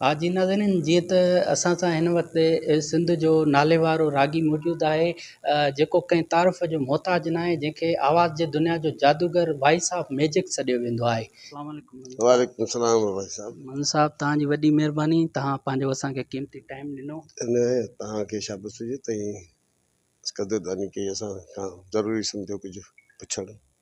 ها جي ناظرين جيئن ته اسان سان هن وقت سنڌ جو ناليوارو راڳي موجود آهي جيڪو ڪنهن تعارف جو محتاج نه آهي جنهن کي آواز جي دنيا جو جادوگر وائيس آف ميجڪ سڏيو ويندو آهي اسلام عليڪم منظور صاحب وعليڪم السلام وائيس صاحب منظور صاحب توهان جي وڏي مهرباني توهان پنهنجو اسان کي قيمتي ٽائيم ڏنو ان توهان کي شابس هجي تائين قدرداني ڪئي اسان کان ضروري سمجهيو ڪجهه پڇڻ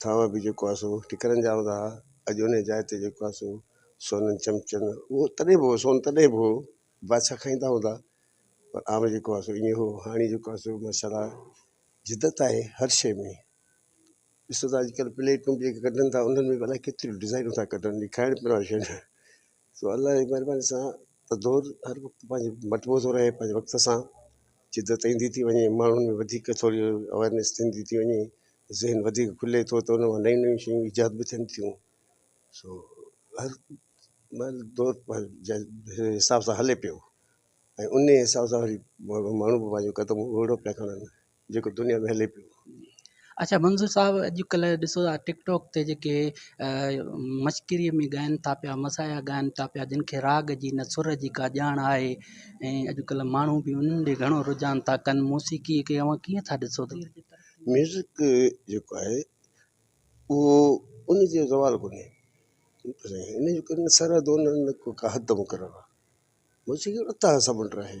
ٿانء به جيڪو آهي سو ٽڪرن جا هوندا هئا اڄ ان جاء تي جيڪو آهي سو سونن چمچن اهو تڏهن به هو سون تڏهن به هو بادشاهه کائيندا هوندا پر عام جيڪو آهي سو ائين هو هاڻي جيڪو آهي سو ماشاء الله جدت آهي هر شي ۾ ڏسو ته اڄ ڪلهه پليٽون به ڪڍن ٿا انهن ۾ به الاء ڪيتريون ڊزائنون ٿا ڪڍن کائڻ پيئڻ واريون شيون سو الله جي مھرباني سان ته دور ھر وقت پنھنجو مٽبو ٿو رھي پنھنجي وقت سان جدت ايندي ٿي وڃي ماڻھن ۾ وڌيڪ ٿوري اويرنيس ٿيندي ٿي وڃي ذھن وڌيڪ کلي ٿو ته ان مان نيون نيون شيون ايجاد به ٿين ٿيون سو ھر مھل دور پنھنجي حساب سان ھلي پيو ۽ انھي حساب سان وري ماڻھو به پنھنجو قدم اوڙو پيا کڻن جيڪو دنيا ۾ هلي پيو. اڇا منظور صاحب اڄ ڪلهه ڏسو ٿا ٽڪ ٽاڪ تي جيڪي مشڪري ۾ ڳائن ٿا پيا مسايا ڳائن ٿا پيا جن کي راڳ جي نه سر جي ڪا ڄاڻ آهي ۽ اڄ ڪلهه ماڻهو به انهن ڏي گهڻو رجحان ٿا ڪن موسيقي کي اوهان ڪيئن ٿا ڏسو ٿا ميوزڪ جيڪو آهي اهو ان جو زوال ڪونهي ان جو ڪن سر دونهن ڪا حد مقرر آهي موسيقي اتهاس مٽ آهي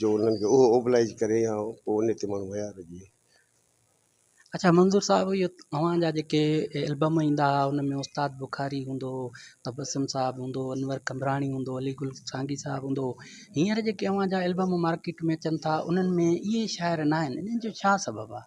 جو انهن کي اهو اوبلائيج ڪري يا ڪو انهي تي ماڻهو ويار هجي. اڇا منظور صاحب اهي اوهان جا جيڪي البم ايندا ها ان ۾ استاد بخاري هوندو هو تبسم صاحب هوندو هو انور قمبراڻي هوندو هو علي گل سانگي صاحب هوندو هو هينئر جيڪي اوهان جا البم مارڪيٽ ۾ اچن ٿا انهن ۾ اهي شاعر ناهن انهن جو ڇا سبب آهي؟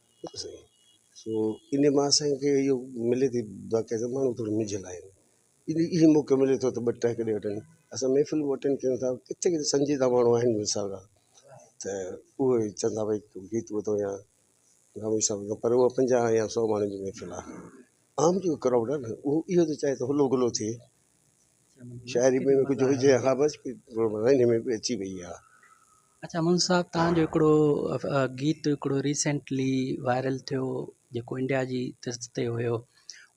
سائين سو ان مان اسان کي اهو ملي ٿي باقي سڀ ماڻهو ٿورو منجهيل آهن ان اهو موقعو ملي ٿو ته ٻه ٽهڪ ڏيئي وٺن اسان محفل به اٽينڊ ڪيون ٿا ڪٿي ڪٿي سنجيده ماڻهو آهن مير صاحب جا ته اهو ئي چون ٿا ڀئي گيت ٻڌو يا غامدي صاحب ٻڌو پر اهو پنجاهه يا سو ماڻهن جي محفل آهي عام جو ڪرائوڊ آهي نه اهو اهو ته چاهي ته هلو گلو ٿئي شاعري ۾ ڪجهه هجي ها بس ان ۾ به اچي وئي اها اچا منظور صاحب توهان جو هڪڙو گيت هڪڙو ريسينٽلي وائرل ٿيو جيڪو انڊيا جي ترس تي هيو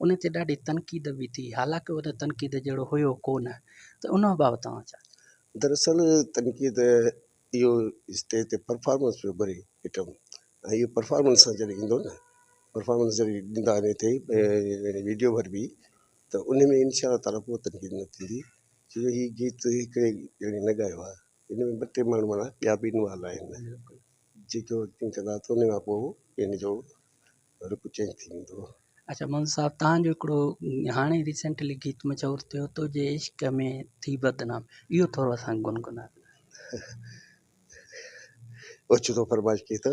ان تي ڏاڍي تنقيد به ٿي حالانڪ ان تنقيد جهڙو هيو ڪونه ته ان بابت توهان ڇا چئو دراصل تنقيد اهو اسٽيج تي پرفارمنس پيو گهري ائٽم ۽ اهو پرفارمنس سان جڏهن ايندو نه پرفارمنس جڏهن ڏيندا ان تي ويڊيو ور به ته ان ۾ انشاء الله تعاليٰ ڪو تنقيد نه ٿيندي ڇو جو هي گيت هڪڙي ڄڻي نه ڳايو آهي ان ۾ ٻه ٽي ماڻهو مانا ٻيا به انوالو آهن جيڪو ايڪٽنگ ڪندا ته ان کان پوء ان جو رخ چينج ٿي ويندو هو اچا مون صاحب تهان جو هڪڙو هاڻي ريسينٽلي گيت مشهور ٿيو تو جي عشق ۾ ٿي بدنام اهو ٿورو اسان کي گنگنا اوچتو فرمائش ڪئي اٿو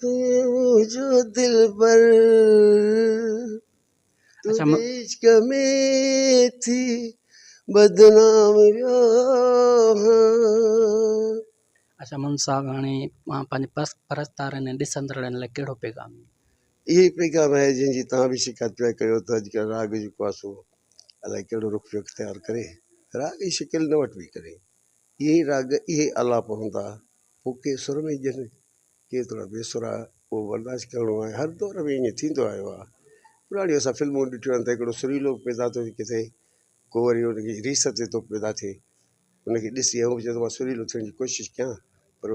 تنهنجو دلبر اچھا م عشق ۾ ٿي بدنام ويو هان. اچھا مون صاحب هاڻي اوهان پنهنجي پس پرستارن ۽ ڏسندڙن لاء ڪهڙو پيغام ڏيندا. اهو ئي پيغام آهي جنهن جي توهان به شڪايت پيا ڪيو ته اڄڪلهه راڳ جيڪو آهي سو الائي ڪهڙو رخ پيو اختيار ڪري راڳ جي شڪل نه وٺبي ڪري اهي ئي راڳ اهي ئي آلاپ هوندا پوء ڪي سر ۾ ڄن ڪير ٿورا بي سرا اهو برداشت ڪرڻو آهي هر دور ۾ ائين ٿيندو آيو آهي پراڻيون اسان فلمون ڏٺيون آهن ته هڪڙو سريلو به پيدا ٿو ٿئي ڪٿي ڪو وري ان جي ريس تي ٿو پيدا ٿئي ان کي ڏسي هو به چوي ٿو مان سريلو ٿيڻ جي ڪوشش ڪيان پر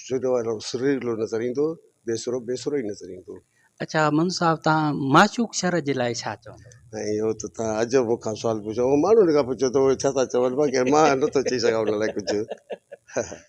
سريلو وارو سريلو نظر ايندو بي سرو بي سرو ئي نظر ايندو اڇا منظور صاحب توهان معشوق شر جي لاء ڇا چوندو ۽ اهو ته توهان عجب مون کان سوال پڇيو ماڻهن کان پڇو ته اهي ڇا ٿا چون باقي مان نٿو چئي سگهان ان لاء ڪجهه